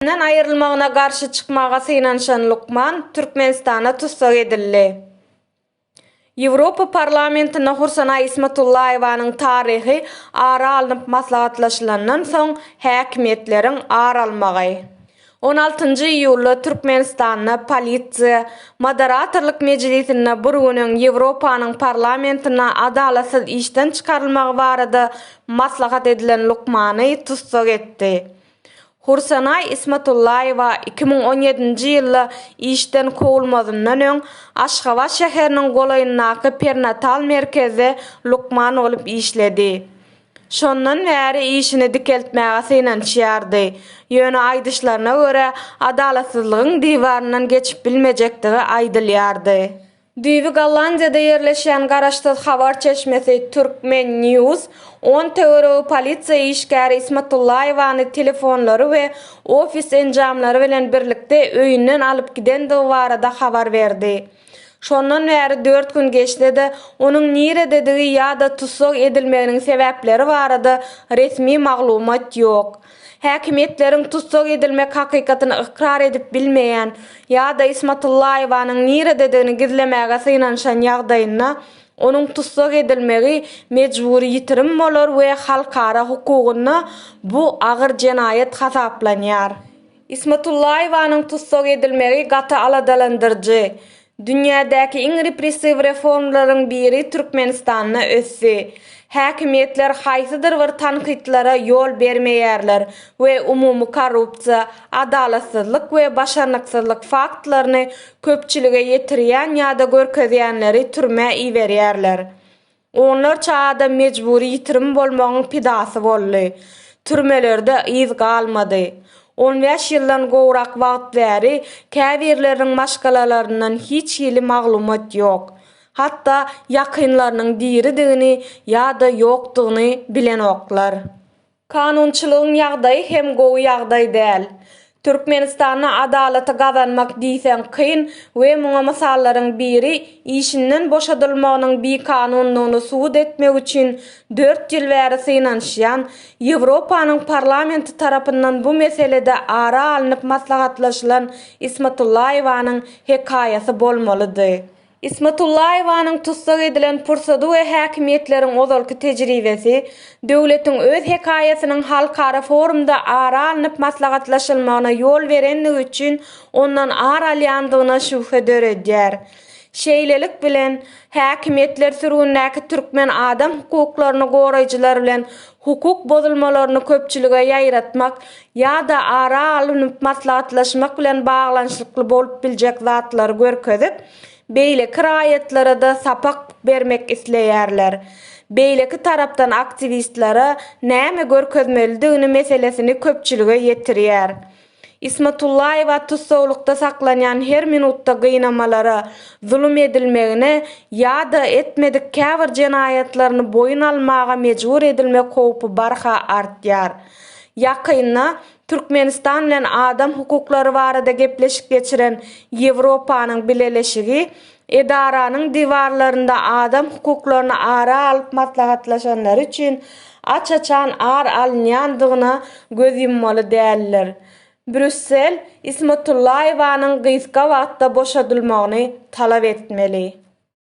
Ýurdunyň aýrylmagyna garşy çykmaga synanyşan lukman Türkmenistana tussag edildi. Ýewropa Parlamentinde Hursana Ismatullaýewanyň taryhy ara alnyp maslahatlaşylandan soň häkimiýetleriň ar almagy. On altynjy iýulda Türkmenistanda polisiýa Moderatorlyk mejlisinde bir gün öň Ýewropanyň parlamentinde adalatsyz işden çykarylmagy barada maslahat edilen lukmany tussag etdi. Hursenaý Ismatullaýewa iki müň on ýedinji ýylda işden kowulmazyndan öň Aşgabat şäheriniň golaýyndaky perinatal merkezde lukman bolup işledi. Şondan bäri işini dikeltmäge synanyşýardy. Ýöne aýdyşlaryna görä, adalatsyzlygyň diwaryndan geçip bilmejekdigi aýdylýardy. Düýbi Gollandiýada ýerleşýän garaşsyz habar çeşmesi Turkmen. News on töweregi polisiýa işgäri Ismatullaýewany telefonlary we ofis enjamlary bilen birlikde öýünden alyp gidendigi barada habar berdi. Şondan bäri dört gün geçse-de, onuň nirededigi ýa-da tussag edilmeginiň sebäpleri barada resmi maglumat ýok. Häkimiýetleriň tussag edilmek hakykatyny ykrar edip bilmeýän ýa-da Ismatullaýewanyň nirededigini gizlemäge synanyşan ýagdaýynda, onuň tussag edilmegi mejbury ýitirim bolar we halkara hukugynda bu agyr jenaýat hasaplanýar. Ismatullaýewanyň tussag edilmegi gaty aladalandyryjy. Dünýädäki iň repressiw reformlaryň biri Türkmenistanda ösdi. Häkimiýetler haýsydyr bir tankytlara ýol bermeýärler we umumy korrupsiýa, adalatsyzlyk we başarnyksyzlyk faktlaryny köpçülige ýetirýän ýa-da görkezýänleri türmä iberýärler. Onlarça adam mejbury ýitirim bolmagyň pidasy boldy. Türmelerde yz galmady. On bäş ýyldan gowrak wagt bäri käbirleriniň maşgalalaryndan hiç hili maglumat ýok. Hatda ýakynlarynyň diridigini ýa-da ýokdugyny bilenoklar. Kanunçylygyň ýagdaýy hem gowy ýagdaý däl. Türkmenistanda adalaty gazanmak diýseň kyn we muňa mysallaryň biri işinden boşadylmagynyň bikanundygyny subut etmek üçin dört ýyl bäri synanyşýan Ýewropanyň parlamenti tarapyndan bu meselede ara alnyp maslahatlaşylan Ismatullaýewanyň hekaýasy bolmalydy. Ismatullaýewanyň tussag edilen pursady we häkimiýetleriň ozalky tejribesi, döwletiň öz hekaýasynyň halkara forumda ara alnyp maslahatlaşylmagyna ýol berendigi üçin ondan ar alýandygyna şübhe döredýär. Şeýlelik bilen, häkimiýetler sürgündäki türkmen adam hukuklaryny goraýjylar bilen hukuk bozulmalaryny köpçülige ýaýratmak ýa-da ara alnyp maslahatlaşmak bilen baglanyşykly bolup biljek zatlary görkezip, beýleki raýatlara-da sapak bermek isleýärler. Beýleki tarapdan aktiwistlere näme görkezmelidigini meselesini köpçülige ýetirýär. Ismatullaýewa tussaglykda saklanýan her minutda gynamalara, zulum edilmegine ýa-da etmedik käbir jenaýatlaryny boýun almaga mejbur edilmek howpy barha artýar. Ýakynda Türkmenistan bilen adam hukuklary barada gepleşik geçiren Ýewropanyň Bileleşigi Edaranyň diwarlarynda adam hukuklaryny ara alyp maslahatlaşanlary üçin aç-açan ar alynýandygyna göz ýummaly däldir. Brýussel Ismatullaýewanyň gysga wagtda boşadylmagyny talap etmeli.